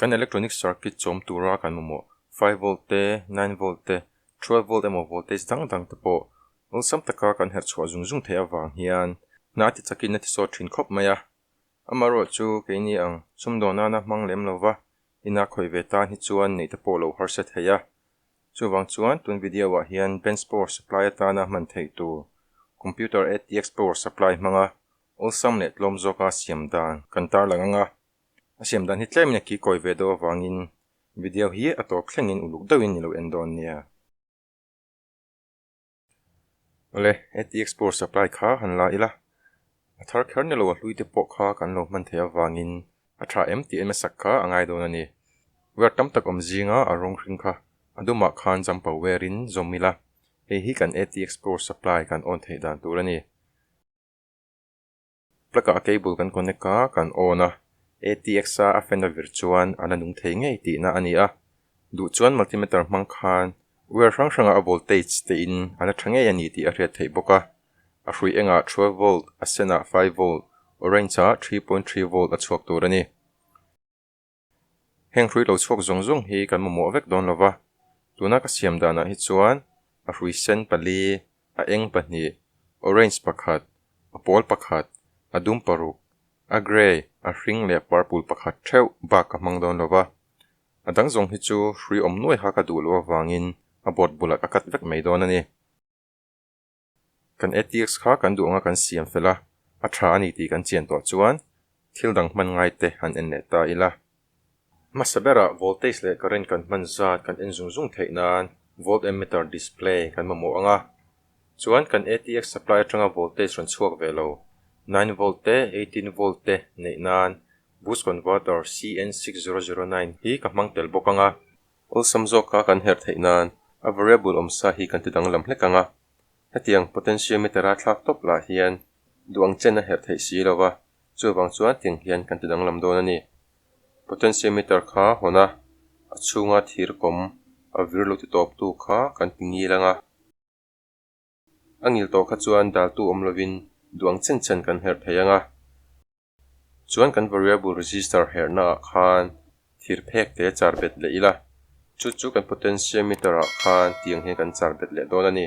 Kan electronic circuit chawm tura kan mamawh five volt te, nine volt te, twelve volt emaw voltage dang dang te pawh awlsam taka kan herh chhuah zung zung theih avang hian hna ti chakin a tisawt thin khawp mai a, amaherawh chu keini ang sum dawn nana hmang lem lo va ina khawih ve tan hi chuan neih te pawh lo harsat thei a. Chuvang chuan tun video ah hian bench power supply atana hman theih tur computer ATX power supply hmanga awlsam leh tlawm zawka siam dan kan tarlang anga A siam dan hi tlem a kikawi ve deuh avangin video hi a tawp thlengin uluk deuhin ni lo en dawn nia. Awle, ATX power supply kha han la ila, a thar kher nilo a hlui te pawh kha kan lo hman thei avangin a tha em tih ema sak kha a ngai dawn a ni. Wire tam tak awm zinga a rawng hring kha a dumah khan jumper wire in zawm ila, hei hi kan ATX power supply kan on theih dan tur a ni. Plug-ah a cable kan connect a, kan on a, ATX-a a fan-a vir chuan a la nung thei ngei tihna a ni a. Duh chuan multimeter hmang khan wire hrang hranga a voltage tein a la tha ngei a ni tih a hriat theih bawk a. A hrui engah twelve volt, a senah five volt, orange-ah three point three volt a chhuak tur a ni. Heng hrui lo chhuak zawng zawng hi kan mamawh vek dawn lova, tuna ka siam danah hi chuan a hrui sen pali, a eng pahnih, orange pakhat, a pawl pakhat, a dum paruk, a grey, a hring leh purple pakhat theuh bak ka hmang dawn lova. A dang zawng hi chu hrui awm nuai kha ka duh loh avangin a bawt bulat a cut vek mai dawn a ni. Kan ethics kha kan duh anga kan siam fel a, a tha a ni tih kan chian tawh chuan thil dang hman ngai te han en leh ta ila. Hmasa berah voltage leh current kan hman zat kan en zung zung theih nan voltmeter display kan mamawh anga, chuan kan ethics supply atanga voltage rawn chhuak ve lo, nine volt te eighteen volt te neih nan boost converter CN six zero zero nine hi ka hmang tel bawk anga. Awlsam zawka kan herh theih nan, a variable awm sa hi kan ti danglam hlek ang a. Hetiang potentiometer-a thlak tawp lah hian duh ang chen a herh theih si lo va, chuvang chuan tiang hian kan ti danglam dawn a ni. Potentiometer kha hawn a, a chhunga thir kawm a vir lo ti tawptu kha kan ti ngil ang a. A ngil tawh kha chuan daltu awm lovin duang chen chen kan herh thei ang a. Chuan kan variable resistor herhna ah khan thir phek te char bet leh ila, chu chu kan potentiometer ah khan tiang hian kan char bet leh dawn a ni.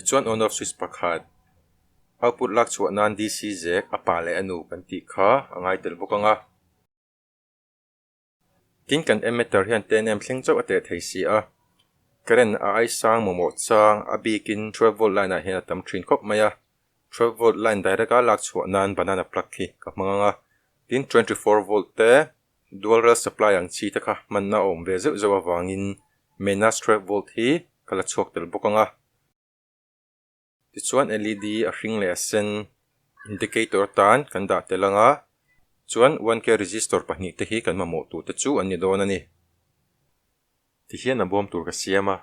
Tichuan Honor Swiss pakhat Hau put lak chhuah nan DC zek a pa leh a nu kan tih kha a ngai tel bawk anga. Tin kan Emater hian ten em thleng chauh a teh thei si a, Current a aisang maw maw chang a bik in twelve volt line ah hian a tam thin khawp mai a, twelve volt line direct a lak chhuah nan banana plug hi ka hmang anga, tin twenty four volt te, Dualrel supply ang chi te kha hmanna a awm ve zeuh zeuh avangin Mena Strap Volt hi ka la chhuak tel bawk ang a. Tichuan LED a hring leh a sen indicator tan kan dah tel ang a, chuan one K resistor pahnih te hi kan mamawh tur te chu an ni dawn a ni. Tihian a bawm tur ka siam a.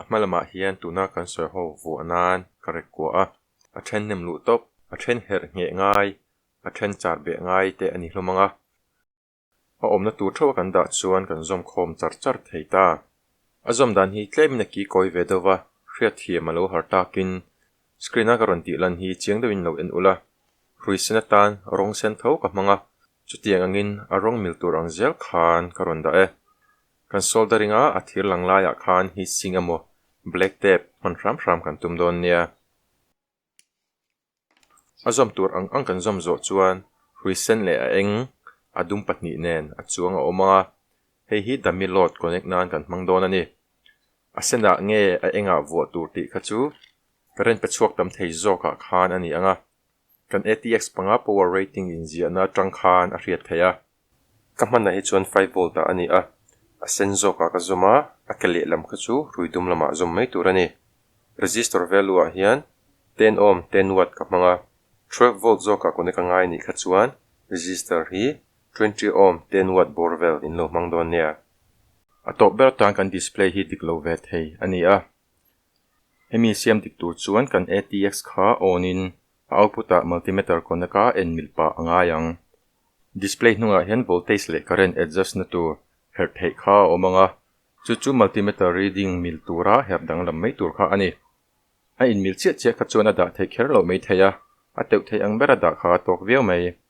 A hma lamah hian tuna kan sawi ho vuah nan ka ret kuah a, a then nem luh tawp, a then herh ngheh ngai, a then char beh ngai te a ni hlawm ang a. A awmna tur theuh a kan dah chuan kan zawm khawm char char thei ta. A zawm dan hi tlem in a ki kawi ve deuh a, hriatthiam a lo har takin screen a ka rawn tihlan hi chiang deuhin lo en ulh a, hrui sen atan rawng sen tho ka hmang a, Chutiang angin a rawng mil tur ang zel khan ka rawn dah e. Kan solder ringa a thir lang laiah khan heat sink emaw black tape hman hram hram kan tum dawn nia. A zawm tur ang ang kan zawm zawh chuan hrui sen leh a eng, a dum pahnih nen a chuang a awm ang a, hei hi dummy load connect nan kan hmang dawn a ni. A senah nge a engah vuah tur tih kha chu ka ren pe chhuak tam thei zawkah khan a ni ang a. Kan ATX panga power rating inziahna tang khan a hriat theih a. Ka hmanah hi chuan five volt ah a ni a, a sen zawkah ka zawm a, a ke leh lam kha chu rui dum lamah zawm mai tur a ni. Resistor value ah hian ten ohm, ten watt ka hmang a, twelve volt zawkah kawne ka ngai nih kha chuan resistor hi twenty ohm, ten watt bawr vel in lo hmang dawn nia. A tawp ber tan kan display hi dik lo ve thei a ni a. Hemi siam dik tur chuan kan ATX kha on in a output a multimeter connect a en milh pah a ngai ang. Display hnungah hian voltage leh current adjust na tur herh theih kha a awm ang a, chu chu multimeter reading milh tura herh danglam mai tur kha a ni. A in milh chiah chiah kha chuan a dah theih kher lo mai thei a, a teuh theih ang ber a dah kha a tawk viau mai.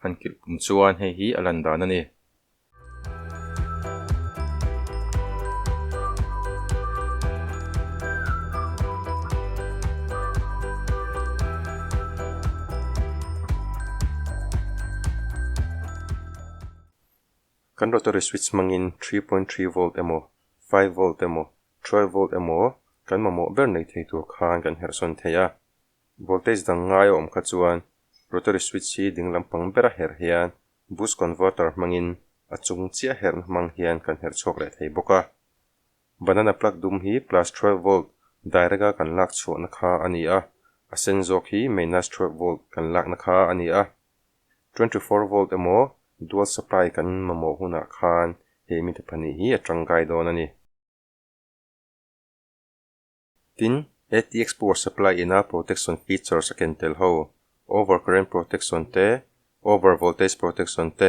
Kan kilh pum chuan hei hi a lan dan a ni. Kan rotary switch hmangin three point three volt emaw, five volt emaw, twelve volt emaw kan mamawh ber nei thei tur khan kan herhsawn thei a. Voltage dang ngai a awm kha chuan rotary switch hi ding lampang bera herh hian boost converter hmangin a chung chiah herhna hmang hian kan herh chhuak leh thei bawk a. Banana plug dum hi plus twelve volt direct a kan lak chhuahna kha a ni a, a sen zawk hi minus twelve volt kan lakna kha a ni a. Twenty four volt emaw dual supply kan mamawh hunah khan he mipa pahnih hi a tangkai dawn a ni. Tin, ATX power supply ina protection features a ken tel ho, over current protection te, over voltage protection te,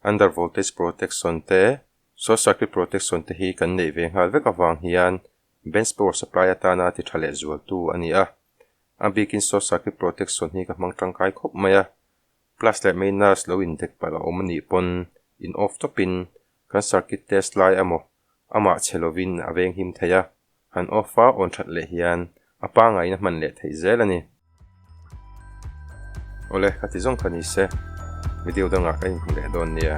under voltage protection te, short circuit protection te hi kan neih ve nghal vek avang hian bench power supply atana ti tha leh zual tu a ni a. A bikin short circuit protection hi ka hmang tangkai khawp mai a, Plus leh minus lo indek palh a awm a nih pawn, in off tawpin kan circuit test lai a maw amah che lovin a veng him thei a, han off a on that leh hian a pangaiin a hman leh theih zel a ni. Awle, ka ti zawng kha ni se, video dangah ka inhmu leh dawn nia.